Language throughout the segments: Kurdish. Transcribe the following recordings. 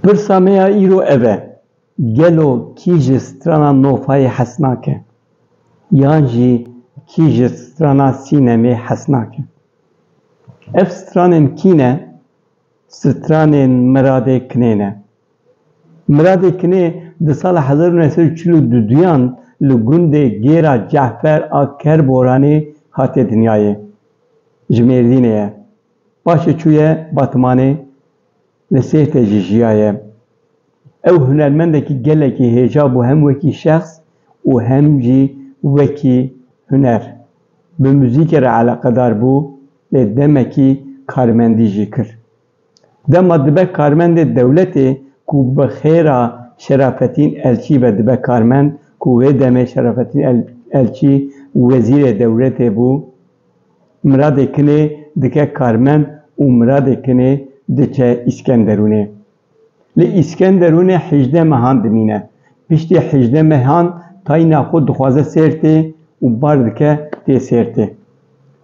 Pirsa me ya îro ev e, gelo kî ji strana Nofayê hez nake? Yan jî kî ji strana Sînemê hez nake? Ev stranên kî ne? Stranên Miradê Kinê ne. Miradê Kinê di sala hezar û neh sed û çil û du duyan li gundê Gêra Ce'fer a Kerboranê hatiye dinyayê. Ji Mêrdînê ye. Paşê çûye Batmanê, li Sêrtê jî jiyaye. Ew hunermendekî gelekî hêja bû hem wekî şexs û hem jî wekî huner. Bi muzîkê re eleqedar bû lê demekî karmendî jî kir. Dema dibe karmendê dewletê ku bi xêra Şerafetîn Elçî ve dibe karmend ku wê demê Şerafetîn Elçî wezîrê dewletê bû, Miradê Kinê dike karmend û Miradê Kinê diçe Îskenderûnê. Li Îskenderûnê hejdeh mehan dimîne. Piştî hejdeh mehan tayîna xwe dixwaze Sêrtê û bar dike tê Sêrtê.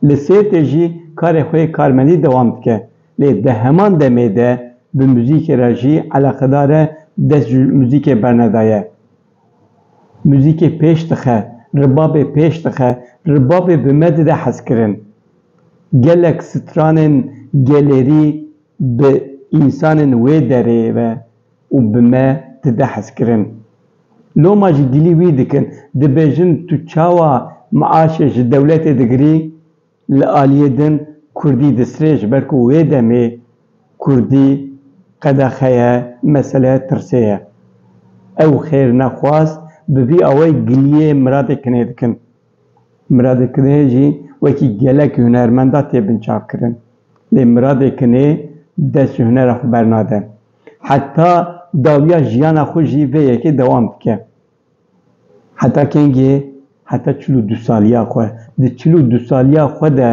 Li Sêrtê jî karê xwe yê karmendî dewam dike. Lê di heman demê de bi muzîkê re jî eleqedar e dest ji muzîkê bernedaye. Muzîkê pêş dixe, ribabê pêş dixe, ribabê bi me dide hezkirin. Gelek stranên gelêrî Bi însanên wê derê ve û bi me dide hezkirin. Loma jî gilî wî dikin, dibêjin tu çawa miaşê ji dewletê digirî, li aliyê din kurdî disrê ji ber ku wê demê kurdî qedexe ye, mesele ye, tirsê ye. Ew xêrnexwaz bi vî awayî giliyê miradê kinê dikin. Miradê Kinê jî wekî gelek hunermenda tê binçavkirin. Lê Miradê Kinê dest ji hunera xwe bernade. Heta dawiya jiyana xwe jî vê yekê dewam dike. Heta kengê? Heta çil û du saliya xwe. Di çil û du saliya xwe de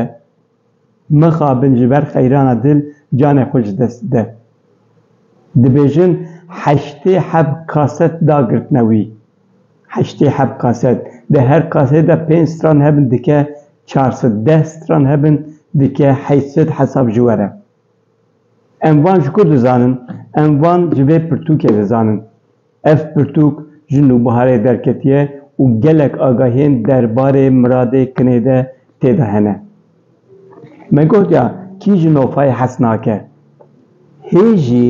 Mixabin ji ber xeyrana dil canê xwe ji dest bide. Dibêjin heştê heb kaset da girtine wî. Heştê heb kaset. Di her kasetê de pênc stran hebin dike çar sed, deh stran hebin dike heşt sed hesab ji were. Em van ji ku dizanin? Em van ji vê pirtûkê dizanin. Ev pirtûk ji nûbiharê derketiye û gelek agahiyên derbarê miradê kinê de tê de hene. Me gotiya kî ji nofayê hez nake. Hê jî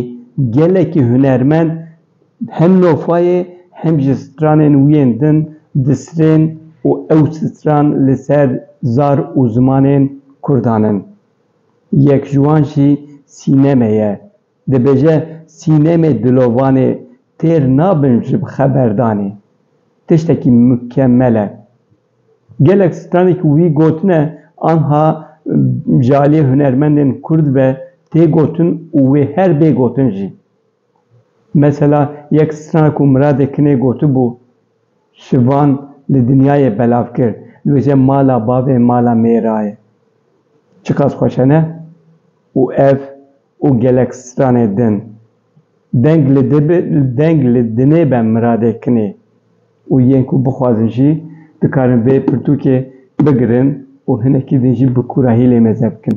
gelekî hunermend hem nofayê hem jî stranên wî yên din disrên û ew stran li ser zar û zimanên kurdan in. Yek ji wan jî sîneme ye. Dibêje sînemê dilovanê têr nabin ji xeberdanê. Tiştekî mukemel e. Gelek stranê ku wî gotine anha ji aliyê hunermendên kurd ve tê gotin û wê her bê gotin jî. Mesela yek stran ku Miradê Kinê gotibû, Şivan li dinyayê belav kir, dibêje mala bavê mala mêra ye. Çiqas xweş e ne? Û ev. û gelek stranê din. Deng li deng li dinê be miradê kinê û yên ku bixwazin jî dikarin vê pirtûkê bigirin û hinekî din jî bi kûrahî lê meze bikin.